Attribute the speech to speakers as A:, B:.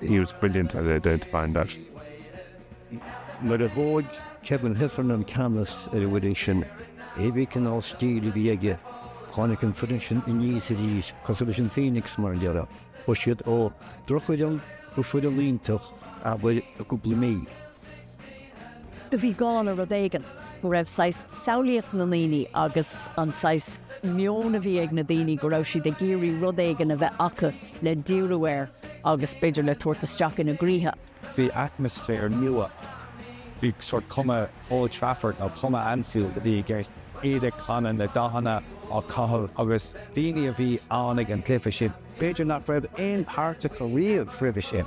A: he was brilliant at identifying
B: that. Nuair a thóg Kevin Heffernan ceannas ar an bhfoireann sin, cébí cineál stíl a bhí aige, tháinig an foireann sin aníos arís cosúil leis an Phoenix mar a déarfá. Chuaigh siad ó dhrochfhoireann go foireann iontach, abair, i gcúpla mí.
C: do bhí gá le rud éigin. go raibh saghas samhlaíocht na ndaoine agus an saghas meon a bhí ag na daoine go raibh siad ag iarraidh rud éigin a bheith acu le díriú air agus b'fhéidir le tabhairt isteach ina gcroíthe. Bhí
D: atmaisféar nua. Bhí sórt cuma Old Trafford nó cuma Anfield a bhí i gceist, iad ag canadh, na dathanna á gcaitheamh agus daoine a bhí ann ag an gcluiche sin b'fhéidir nach raibh aon páirt acu riamh roimhe sin.